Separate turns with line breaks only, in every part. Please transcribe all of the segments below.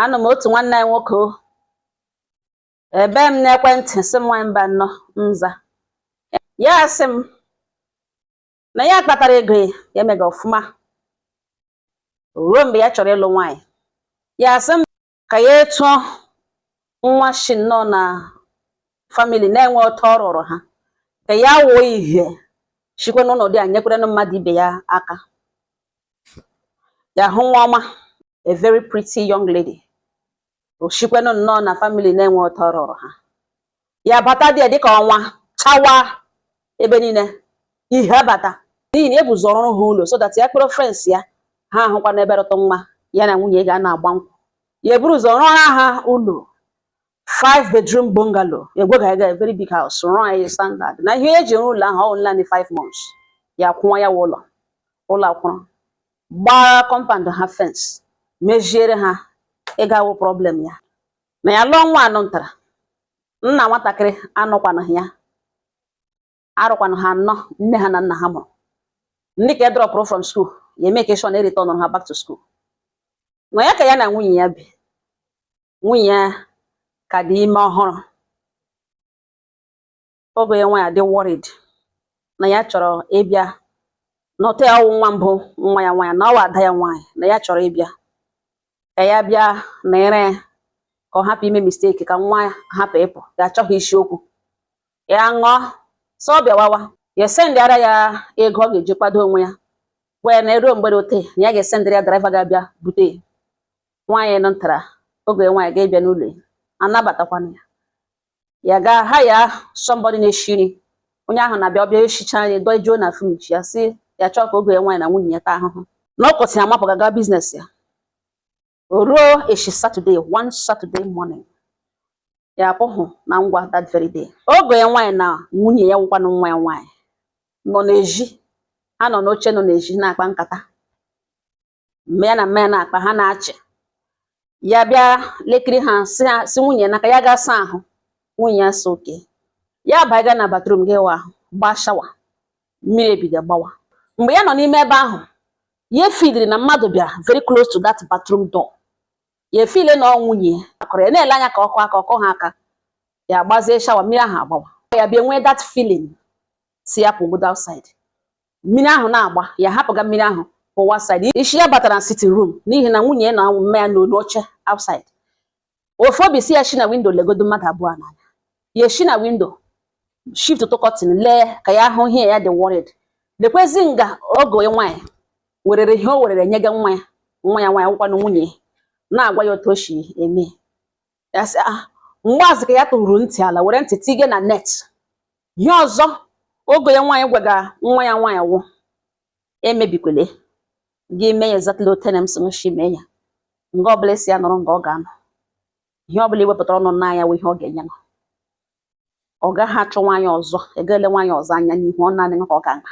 anụ m otu nwanne anyị nwoke o ebe m n'ekwentị sị m nwanyị mba nnọọ m za ya sị m na ya kpatara ego ya emega ọfụma ruo mgbe ya chọrọ ịlụ nwaanyị ya sị m ka ya tuo nwa shi nnọọ na family na-enwe otu ọ rụrụ ha ka ya wuo ihe shikwe n'ụlọ dị a nyekwere mmadụ ibe ya aka ya hụ nwa ọma a very pretty young lady o shikwanụ nnọọ na family na-enwe otu ọ rụrụ ha ya bata dị ya dịka ọnwa chawa ebe niile ihe abata n'ihi na ya bu ụzọ rụọrọ ha ụlọ so that ya kpọrọ friends ya ha ahụkwanụ ebe rụtụ mma ya na nwunye ga na-agba nkwụ ya eburu ụzọ rụọrọ ha ụlọ five bedroom bungalow egwega ega very big house rụọ ya standard na ihe e ji rụọ ụlọ ahụ ọ naanị five months ya kwụwa ya ụlọ ụlọ akwụrụ gbaara compound ha fence meziere ha ihe ga-awụ problem ya na ya lụọ nwa anụ ntara nna nwatakịrị anọkwanụghị ya ha rụkwanụ ha anọ nne ha na nna ha mụrụ ndị ka drọpụrụ from school ya emake sure ereturnụ ha back to school nwa ya ka ya na nwunye ya bi nwunye ya ka dị ime ọhụrụ ọgọ ya nwaanyị a dị worried na ya chọrọ ịbịa leta ya ọ wụ nwa mbụ nwa ya nwaanyị na ọ wụ ada ya nwaanyị na ya chọrọ ịbịa ka ya bịa nyere ya aka ọ hapụ ime mistake ka nwa ya hapụ ịpụ ya achọghị isi okwu ya nọọ sị ọ bịawawa ya esendịara ya ego ọ ga-eji kwado onwe ya gwa ya na eruo mgbede ote na ya ga-esendịrị ya driver ga-abịa bute ya nwaanyị nọ ntara ọgọ ya nwaanyị ga-abịa n'ụlọ ya anabatakwanụ ya ya gaa hire somebody na-eshi nri onye ahụ na-abịa ọ bịa eshichaa nri dojuo na fridge ya sị ya achọghị ka ọgọ ya nwaanyị na nwunye ya taa ahụhụ n'okwu isi nri amapụ gaga business ya ruo echi saturday one saturday morning ya apụghị na ngwa that very day ọgọ ya nwaanyị na nwunye ya wụkwanụ nwa ya nwaanyị nọ n'ezi ha nọ n'oche nọ n'ezi na-akpa nkata mgbe ya na mma ya na-akpa ha na-achị ya bịa lekiri ha sị nwunye ya ka ya gaa saa ahụ nwunye ya sị okay ya banyega na bathroom ga-awụ ahụ gbaa shower mmiri ebido gbawa mgbe ya nọ n'ime ebe ahụ ya efeeliri na mmadụ bịara very close to that bathroom door ya efeel na ọ nwunye ya kwụrụ ya na-ele anya ka ọ kụọ aka ọ kụghị aka ya gbazie shower mmiri ahụ agbawa ya bịa nwee that feeling sị ya pụgodi outside mmiri ahụ na-agba ya hapụga mmiri ahụ pụwa outside isi ya batara na sitting room n'ihi na nwunye ya na mma ya nọ n'elu oche outside ofu obi si ya shi na windo legodo mmadụ abụọ n'anya ya shi na windo shiftụ curtain lee ka ya hụ ihe ya dị worried lekwezi nga ọgọ ya nwaanyị werere ihe o werere nyega nwa ya nwaanyị wụkwanụ nwunye ya na-agwa ya otu o si eme ya sị ah mgbaazị ka ya tụrụ ntị ala were ntị tige na net ihe ọzọ ọgọ ya nwaanyị gwaga nwa ya nwaanyị wụ emebikwele gị mee ya exactly otu na m sị shi mee ya nga ọbụla ị sị ya nọrọ nga ọ ga-anọ ihe ọbụla i wepụtara ọnụ naa ya wụ ihe ọ ga-enye nọ ọ gaghị achọ nwaanyị ọzọ ga-ele nwaanyị ọzọ anya n'ihu ọ naanị ka ọ ga-ama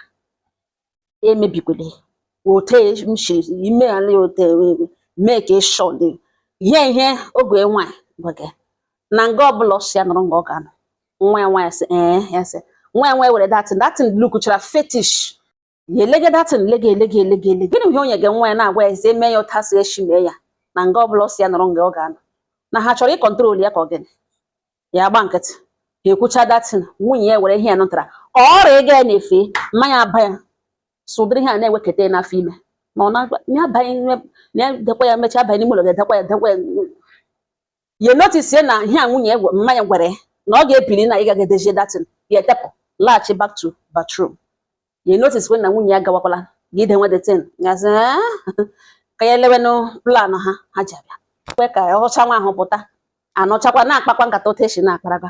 emebikwele otu m si ime ala ote mee ka ịshọ dị ihe ihe ọgọ ya nwaanyị gwaga na nga ọbụla ọ sị ya nọrọ nga ọ ga-anọ nwa ya nwaanyị sị ee eh, ya sị nwa ya nwaanyị were datin datin lukuchara fetish ya elege datin lege elege elege elege gịnị ihe o nyega nwa ya na-agwa ya ezi eme ya otu a sị eshi mee ya na nga ọbụla ọ sị ya nọrọ nga ọ ga-anọ na ha chọrọ ịkọntrol ya ka ọ gịnị ya gba nkịtị ha ekwucha datin nwunye ya were ihe ya nụtara ka ọ rịaga ya na-efe mma ya aba ya sị ụdịrị ihe a na-eweketa ya n'afọ ime ma ọ na-abaghị na ya dekwa ya mechaa abanye n'ime ụlọ ga-edekwa ya dekwa ya ya notice na ihe a nwunye mma ya gwara ya na ọ ga-ebili na ịga ga-edezie datin ya etepụ laghachi back to bathroom ya notice when na nwunye ya gawakwala ga idenwe datin gazi ka ya elewenụ plan ha ha ji abịa kwe ka ọcha nwa ahụ pụta anọchakwa na-akpakwa nkata otu esi na-akparaga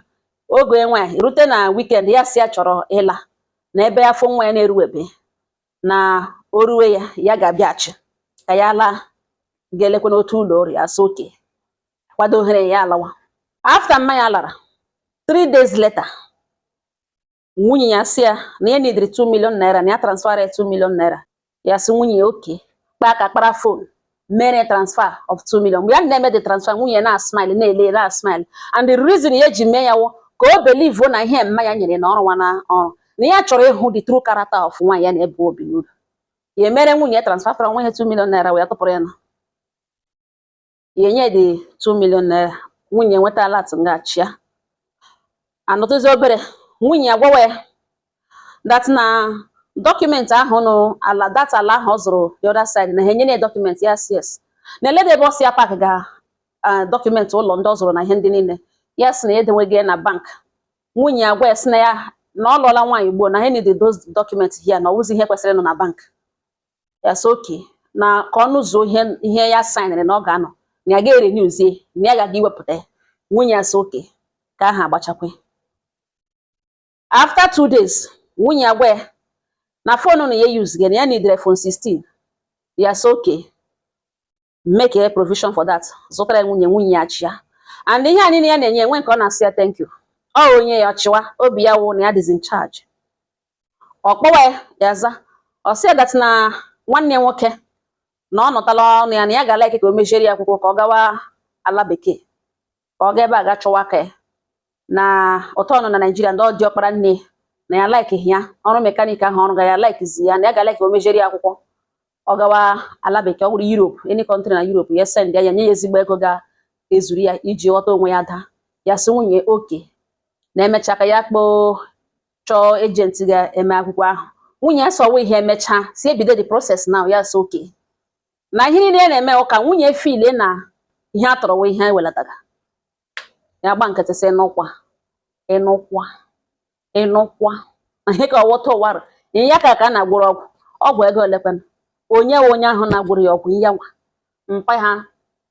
ọgọ ya nwaanyị rute na wikend ya sị ya chọrọ ịla na ebe afọ nwa ya na-eruwebe na o ruwe ya ya ga-abịachi ka ya laa ga-elekwa n'otu ụlọ ọrụ ya sị oke kwado ohere ya alawa afta mma ya lara three days later nwunye ya sị ya na ya nidiri 2 million naira na ya transfara ya 2 million naira ya sị nwunye ya oke kpaa aka kpara fon mere transfer of 2 million mgbe ya na-eme the transfer nwunye ya na-asmile na-ele ya na-asmile and the reason ya ji mee ya wụ ka o believe na ihe mma ya nyere na ọrụ nwa na ọrụ na ya chọrọ ịhụ the true character of nwaanyị ya na-ebu obi n'ụlọ ya emere nwunye ya transfer tọrọ nwa ihe 2 million naira wee tụpụrụ ya na ya enye the 2 million naira nwunye nweta alat ngachia anọtụzi obere nwunye ya gwawa ya dat na dọkụmentị ahụ nụ ala dat ala ahụ ọ zụrụ the other side na ha enyela ya dọkụmentị ya sị yes na elede ebe ọ si ya pak ga dọkụmentị ụlọ ndị ọ zụrụ na ihe ndị niile ya sị na ya edenwega ya na bank nwunye ya gwa ya sị na ya na ọ lụọla nwaanyị ugbuo na ha need those dọkụmentị here na ọ wụzi ihe kwesịrị ịnọ na bank ya sị oke na ka ọnụ zuo ihe ya saịnịrị na ọ ga-anọ na ya ga-erenewzie na ya ga-aga iwepụta ya nwunye ya sị oke ka aha agbachakwe after two days nwunye ya gwa ya na fon na ya yuzga na ya nidiri iPhone 16 ya sị oke make a provision for that zụtara ya nwunye nwunye ya achịa and ihe a niile ya na-enye enwe nke ọ na-asị ya thank you ọ o nye ya ọ chịwa obi ya wụ na ya dịzi in charge ọ kpọwa ya za ọ sị ya that na nwanne nwoke na ọ nọtala ọnụ ya na ya ga-alaiki ka o mejere ya akwụkwọ ka ọ gawa ala bekee ka ọ ga ebe a ga chọwa aka na ụtọ ọnụ na naijiria ndị ọ dị ọkpara nne na ya laiki ya ọrụ mekanik ahụ ọ rụga ya laikizi ya na ya ga laiki o mejere ya akwụkwọ ọ gawa ala bekee ọ bụrụ Europe any country na Europe ya send ya ya nye ya ezigbo ego ga-ezuru ya iji ghọta onwe ya daa ya sị nwunye okay na emecha ka ya kpọọ chọọ ejenti ga-eme akwụkwọ ahụ nwunye ya sọwa ihe emechaa sị e bido the process now ya sị okay na ihe niile na-eme wụ ka nwunye filie na ihe a tọrọwa ihe ewelataga ya gba nkịtị sị ịnụkwa ịnụkwa ịnụkwa ihe ka ọ wụta ụwara ihe ya ka ka a na-agwọrọ ọgwụ ọgwụ ego olekwana onye wụ onye ahụ na-agwọrọ ya ọgwụ ya nwa mpa ha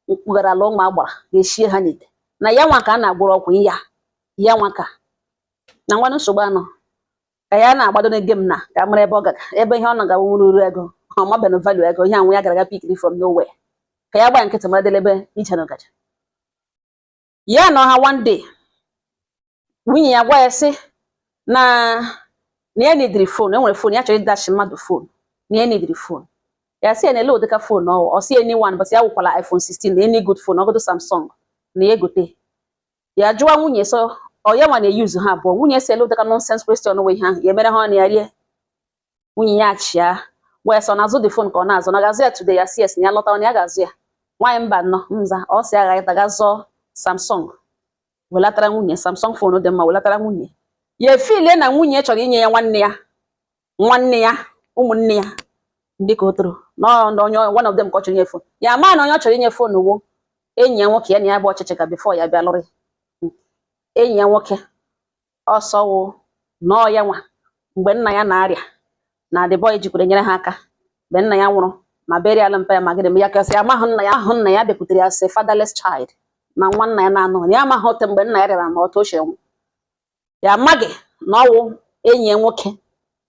mkpugharala ụmụ agbara ga-eshie ha n'ite na ya nwa ka a na-agwọrọ ọgwụ ya ya nwa ka na nwanne nsogbu anọ ka ya na-agbado na game na ka mara ebe ọ gara ebe ihe ọ na-agawa nwere uru ego ọ mabeghị value ego ihe anwụ ya gara aga pikiri from nowhere ka ya gbaa nkịtị mara delebe ije na-agaje ya nọ ha one day nwunye ya gwa ya sị na na ya nidiri fon enwere fon ya chọrọ ịdashị mmadụ fon na ya nidiri fon ya sị ya na ele ụdịka fon ọ ọ sị ya any one but ya wụkwala iPhone 16 na any good fon ọ wụgodu Samsung na ya egote ya jụwa nwunye so ọ ya nwa na-eyuzu ha abụọ nwunye sị ele ụdịka nonsense question wụ ihe ahụ ya emere ha ọnụ ya rie nwunye ya achịa wee sị ọ na-azụ the fon ka ọ na-azụ na ga-azụ ya today ya sị yes na ya lọta ọ na ya ga-azụ ya nwaanyị mba nnọ nza ọ si agha ịta ga zụọ samsung welatara nwunye samsung fon dị mma welatara nwunye ya efilie na nwunye chọrọ inye ya nwanne ya nwanne ya ụmụnne ya ndị ka o toro na onye one of them ka ọ chọrọ inye fon ya ma na onye ọ chọrọ inye fon wụ enyi ya nwoke ya na ya bụ ọchịchị ka before ya bịa lụrụ hmm. enyi ya nwoke ọsọ wo na ọ ya nwa mgbe nna ya na-arịa na the boy jikwere nyere ha aka mgbe nna ya nwụrụ ma burial mpa ya ma gịdị m ya kasị amaghị nna ya ahụ nna ya bịakwutere ya sị fatherless child na nwa nna ya na-anọ ya amaghị ote mgbe nna ya rịara ma otu o shi nwụ ya amaghị na ọ wụ enyi ya nwoke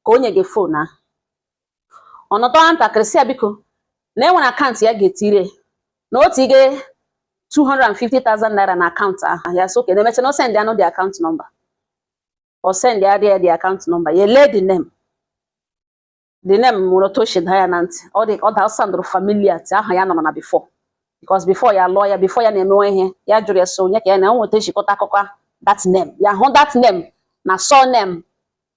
ka o nyega fon ahụ ọ nọtụrụ ntakịrị sị ya biko na e nwere akaụntụ ya ga-etire na o tinye 250,000 naira na akaụntụ ahụ ya sị okay na emecha na o sendịanụ the akaụntụ nọmba o sendịadị ya the akaụntụ nọmba ya lee the name the name nwere otu o si daa ya na ntị ọ dị ọ daa soundụrụ familiar ti aha ya nụrụna before because before ya lụọ ya before ya na-emewe ihe ya jụrụ ya so onye ka ya na enweta ejikọta akụkọ ahụ, that name ya hụ that name na surname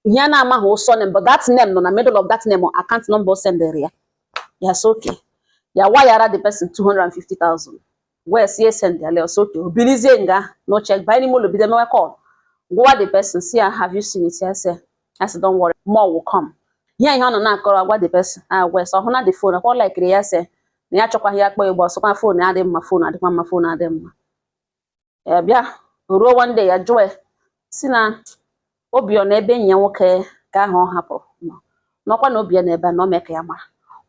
ihe a na-amaghị wụ surname but that name nọ na middle of that name or account number o sendere ya ya sị okay ya wayara the person 250,000 wee sị e sendịala ọ sị okay o bilizie nga n'oche banye n'ime ụlọ bido mewe call gwa the person sị ya have you seen it ya sị ya sị don't worry more will come ihe ihe ọ nọ na-akọrọ agwa the person agwa sị ọ hụ na the phone akwa laikiri ya sị na ya chọkwaghị ya kpọ ịgba ọsọkwa phone adị mma phone adịkwa mma phone adị mma ya bịa ruo one day ya jụọ sị na obi ya na ebe enyi ya nwoke ke ahụ ọ hapụrụ nọ nọkwa na obi ya n'ebe a na ọ mee ka ya mara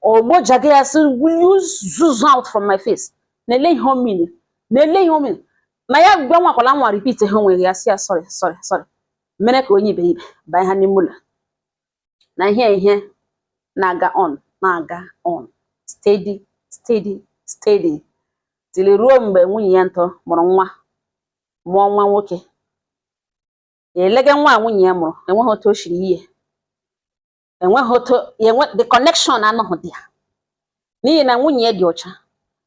ogbojaga ya sị will you zuzu out from my face na-ele ihe o mean na-ele ihe o mean na ya anwakwala anwa repeat ihe onwe ya sị ya sorry sorry sorry mere ka onye iberibe banye ha n'ime ụlọ na ihe ihe na-aga on na-aga on steady steady steady till ruo mgbe nwunye ya ntọ mụrụ nwa mụọ nwa nwoke ya elege nwa nwunye ya mụrụ enweghị otu o siri ihe enweghị otu enwe the connection anọghị there n'ihi na nwunye ya dị ọcha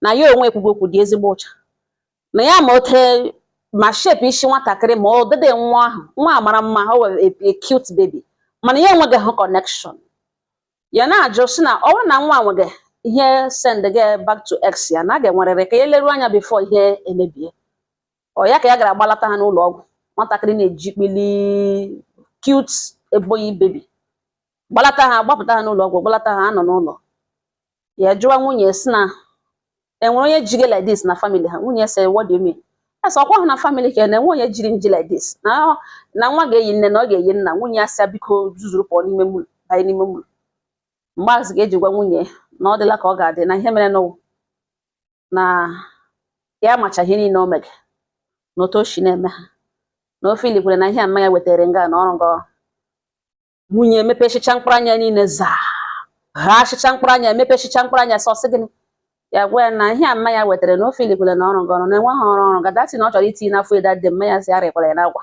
na ya onwe ekwugwu okwu dị ezigbo ọcha na ya ma ote ma shape isi nwatakịrị ma ọdịdị nwa ahụ nwa a mara mma ọ wụ a cute baby mana ya enweghị hụ connection ya na-ajụ sị na ọ bụrụ na nwa nweghị ihe send gị back to ex ya na a ga-enwerịrị ka ya leruo anya before ihe emebie ọ ya ka ya gara gbalata ha n'ụlọ ọgwụ nwatakịrị na-eji kpili cute ebony baby gbalata ha gbapụta ha n'ụlọ ọgwụ gbalata ha anọ n'ụlọ ya jụwa nwunye sị na e nwere onye jiri like this na family ha nwunye sị what do you mean ya sị ọkwa ha na family ka na enwe onye jiri nji like this na na nwa ga-eyi nne na ọ ga-eyi nna nwunye ya sị ya biko zuzuru pụọ n'ime ụlọ banye n'ime ụlọ mgbe azụ ga-eji gwa nwunye na ọ dịla ka ọ ga-adị na ihe mere n'ụwa na ya macha ihe niile o mege na otu o si na-eme ha na o feelikwara na ihe a mma ya wetara nga na ọ wrong nwunye emepechicha mkpụrụ anya niile zaa ha achịcha mkpụrụ anya emepechicha mkpụrụ anya sị ọ sị gịnị ya gwa ya na ihe a mma ya wetara na o feelikwara na ọ wrong ọrụ na enwe ha ọrụ ọrụ ga dati na ọ chọrọ itinye n'afọ eda dị mma ya si arịkwara ya n'agwa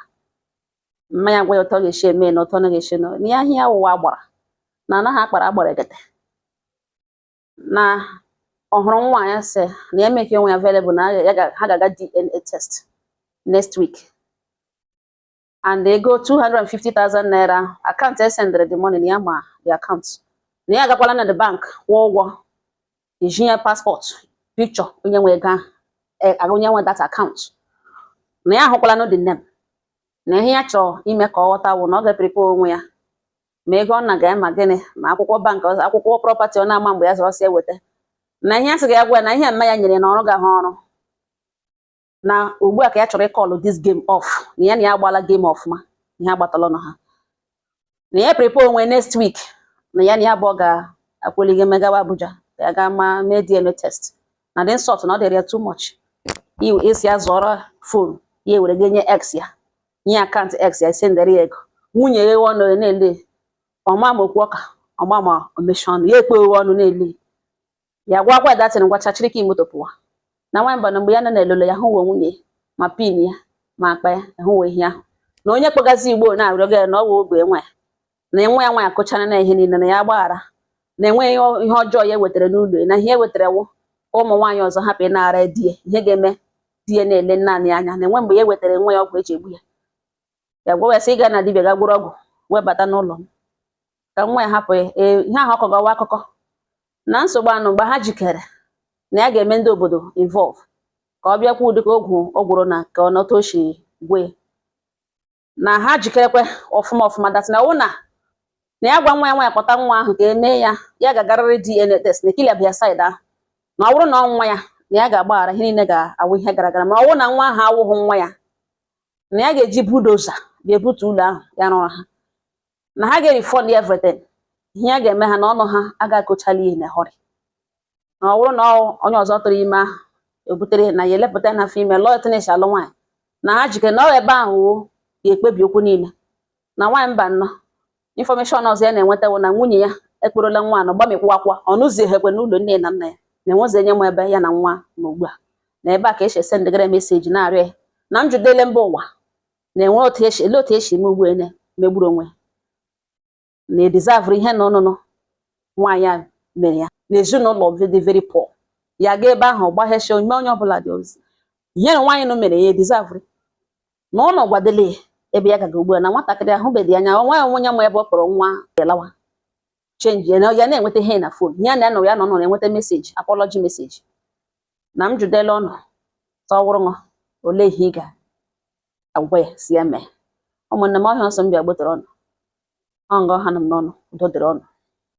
mma ya gwa ya otu ọ ga-esi eme na otu ọ na ga-esi na ya ihe ya wụwa agbara na anaghị akpara agbara egete na ọ hụrụ nwa ya sị na ya make onwe ya available na ya ga- ha ga-aga DNA test next week and ego 250,000 naira account e sendịrị the money na ya ma the account na ya agakwala na the bank kwụọ ụgwọ eji ya passport picture onye nwe ego ahụ eh, aga onye nwe that account na ya ahụkwalanụ the name na ihe ya chọrọ ime ka ọ ghọta wụ na ọ ga-eprepare onwe ya ma ego ọ na-aga ma gịnị ma akwụkwọ bank akwụkwọ prọpati ọ na-ama mgbe ya zọrọ si eweta na ihe a sị ga agwa na ihe mma ya nyere na ọ rụgahụ ọrụ na ugbu a ka ya chọrọ ịkọlụ this game off na ya na ya agbala game ọfụma ihe agbatala ọnụ ha na ya prepare onwe next week na ya na ya abụọ ga-akwụligo megawa Abuja ka ya gaa ma mee DNA test na the insult na ọ dịrị ya too much a sị ya zụọrọ fon ya ewere ga enye ex ya nye akaụntụ ex ya sendere ya ego nwunye ya eghe ọnụ ya na-ele ọ ma ma okwu ọ ka ọ ma ma o mechi ọnụ ya ekpe eghe ọnụ na-ele ya gwa gwa datin gwachaa chịrị kii moto pụwa na nwaanyị mba na mgbe ya nọ na-elolo ya hụwo nwunye ya ma pin ya ma akpa ya hụwo ihe ahụ na onye kpọgazi ugbu a na-arịọga ya na ọ wụ ọgọ nwa ya na nwa ya nwaanyị akọchara ya ihe niile na ya gbaghara na enweghị ihe ọjọọ ya wetara n'ụlọ na ihe ewetara wụ ka ụmụ nwaanyị ọzọ hapụ ịnara di ya ihe ga-eme di ya na-ele naanị anya na enwe mgbe ya wetara nwa ya ọgwụ eji egbu ya ya gwa ya sị ịga na dibia ga gwọrọ ọgwụ webata n'ụlọ m ka nwa ya hapụ ya e, ihe ahụ ọ kọgawa akụkọ na nsogbu anọ mgbe ha jikere na ya ga-eme ndị obodo involve ka ọ bịa kọwa ụdị ka ọgwụ ọ gwọrọ na ka ọ nọta o shi gwọọ na ha jikerekwa ọfụma ọfụma dat na ọ wụ na ya gwa nwa ya nwa ya kpọta nwa ahụ ka emee ya ya ga-agarịrị DNA test na ekili abịa saịdị ahụ na ọ wụrụ na ọ nwa ya na ya ga-agbaghara ihe niile ga-awụ ihe gara gara ma ọ wụrụ na nwa ahụ awụghị nwa ya na ya ga-eji bulldozer ga ebutu ụlọ ahụ ya rụrụ ha na ha ga-refund everything ihe ya ga-eme ha na ọnụ ha aga-akọchali ihe ha hụrụ na ọ bụrụ na onye ọzọ tụrụ ime ahụ ebutere na ya elepụta n'afọ ime lụọ tinye ishi alụ nwaanyị na ha jikere na ọ ebe ahụ wo ga-ekpebi okwu niile na nwaanyị mba na infọmeshọn ọzọ ya na-enweta wụ na nwunye ya akpọrọla nwa nụ gbamikwa akwa ọ nọzighikwa n'ụlọ nne na nna ya na enwezi onye ma ebe ya na nwa nọ ugbu a na ebe a ka esi esendigara meseji na-arịọ ya na m jụdele mba ụwa na-enwe otu esi ele otu esi eme ugbu a megburu onwe na edizavụrụ ihe na ọnụnụ nwaanyị a mere ya na ezinụlọ dị very poor ya ga ebe ahụ gbaghesi ome onye ọbụla dị ozi ihe na nwaanyị nụ mere ya edizavụrụ na unu gwadele ebe ya ga-aga ugbu a na nwatakịrị ahụbedị anya nwa ya onye ma ebe ọ kpọrọ nwa ya lawa chenji ya na-enweta ihe na fon ya na anọ ya nọ nọ na-enweta meseji apọlọji meseji na m jụdela unu sị ọ wụrụ gị olee ihe ị ga-agwa ya sị ya mee ụmụnne m ọ ihe a m sị m bịa gbotara unu nga a anọ m n'anọ udo dịrị unu